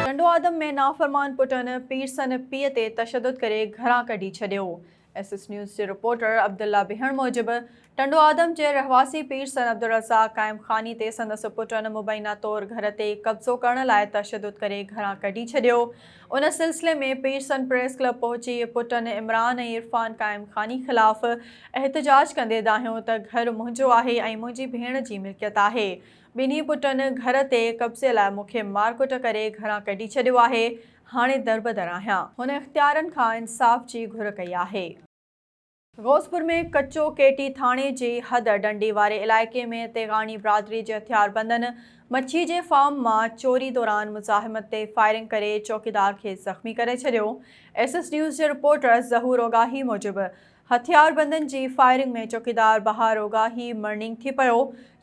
ٽنڊوآدم ۾ نافرمان پٽن پير سن پيء تي تشدد ڪري گهران ڪڍي ڇڏيو ايس ايس نيوز جي رپورٽر عبدالله بهڻ موجب ٽنڊو آدم جي رهواسي پير سر عبدالرزاق قائم خاني تي سندس پٽن مبينا طور گهر تي قبضو ڪرڻ لاء تشدد ڪري گهران ڪڍي ڇڏيو. ان سلسلي ۾ پير سن پريس ڪلب پهچي پٽن عمران ۽ عرفان قائم خاني خلاف احتجاج ڪندي دانهيو ته گهر منهنجو آهي ۽ منهنجي ڀيڻ جي ملڪيت آهي. ٻنهي پٽن گهر تي قبضي لاء مون کي مارڪٽ ڪري گهران ڪڍي ڇڏيو آهي. هاڻي دربدر آهيان. هن اختيارين کان انصاف جي گهر ڪئي آهي. غوثپور ۾ ڪچو ڪي ٽي ٿاڻي جي حد ڊنڊي واري علائقي ۾ تيغاڻي برادري جي هٿياربندن مڇي جي فارم مان چوري دوران مزاحمت تي فائرنگ ڪري چوڪيدار کي زخمي ڪري ڇڏيو ايس ايس نيوز جي رپورٽر ظهور اوڳاهي موجب هٿياربندن جي فائرنگ ۾ چوڪيدار بهار اوڳاهي مرڻينگ ٿي پيو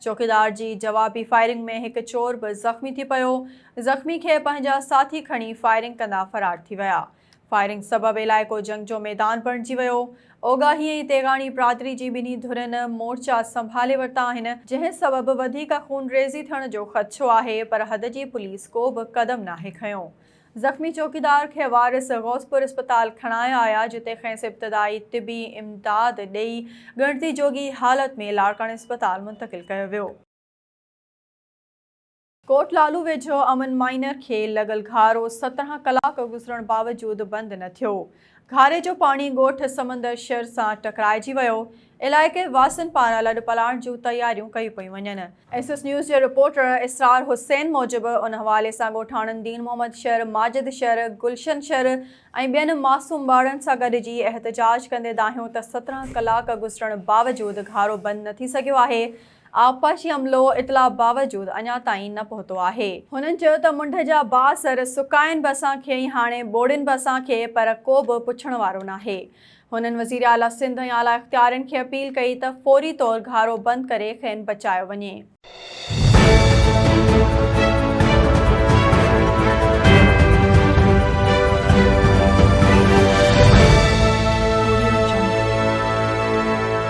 چوڪيدار جي جوابي فائرنگ ۾ هڪ چور به زخمي ٿي پيو زخمي کي پنهنجا ساٿي کڻي فائرنگ ڪندا فرار ٿي ويا فائرنگ سبب علائقو جنگ جو ميدان بڻجي ويو. اوڳاهي ۽ تيغاڻي برادري جي ٻنهي ڌرين مورچا سنڀالي ورتا آهن، جنهن سبب وڌيڪ خونريزي ٿيڻ جو خدشو آهي پر حد جي پوليس ڪو به قدم ناهي کنيو. زخمي چوڪيدار کي وارث غوثپور اسپتال کڻايا آيا جتي کيس ابتدائي طبي امداد ڏئي ڳڻتي جوڳي حالت ۾ لاڙڪاڻي اسپتال منتقل ڪيو ويو. ڪوٽ لالو ويجهو امن مائنر کي لڳل گهارو سترهن ڪلاڪ گذرڻ باوجود بند نه ٿيو، گهاري جو پاڻي ڳوٺ سمندر شھر سان ٽڪرائجي ويو، علائقي واسين پاران لڏپلاڻ جون تياريون ڪيون پيون وڃن. ايس ايس نيوز جي رپورٽر اسرار حسين موجب ان حوالي سان ڳوٺاڻن دين محمد شھر، ماجد شھر، گلشن شھر ۽ ٻين معصوم ٻارڙن سان گڏجي احتجاج ڪندي دانهيو ته سترهن ڪلاڪ گذرڻ باوجود گهارو بند نه ٿي سگهيو آهي آبپاشي عملو اطلاع باوجود اڃا تائين نه پهتو آهي. هنن چيو ته منڍ جا بااثر سڪائن به اسان کي ۽ هاڻي ٻوڙين به اسان کي پر ڪو به پڇڻ وارو ناهي. هنن وزير اعليٰ سنڌ ۽ اعليٰ اختيارين کي اپيل ڪئي ته فوري طور گهارو بند ڪري کين بچايو وڃي.